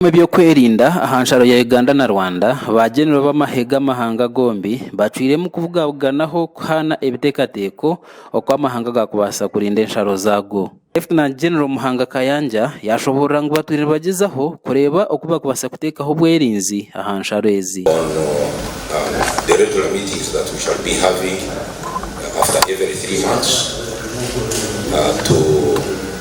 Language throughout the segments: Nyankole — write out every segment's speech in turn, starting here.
Ab'omu by'okwerinda aha nsharo ya Uganda na Rwanda ba Genero b'amahe g'amahanga gombi bacwiremu kubugabuganaho kuhaana ebiteekateeko oku amahanga gaakubaasa kurinda ensharo zaago. Lieutenant General Muhanga Kayanja yaashoboorora ngu batwire nibagyezaho kureeba oku baakubaasa kuteekaho obwerinzi aha nsharo ezi.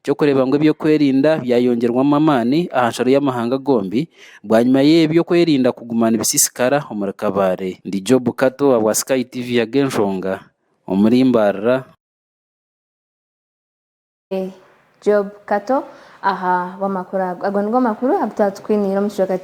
Eky'okureeba ngu eby'okwerinda byayongyerwamu amaani aha nsharo y'amahanga gombi bwanyima y'eby'okwerinda kuguma nibisisikara omuri Kabale. Ndi Job Kato owa bwa Sky TV Agenshonga omuri Mbarara. Ndi Job Kato aha bw'amakuru ago. Ago nigo makuru agu twaba tukwiniire omu kicweka.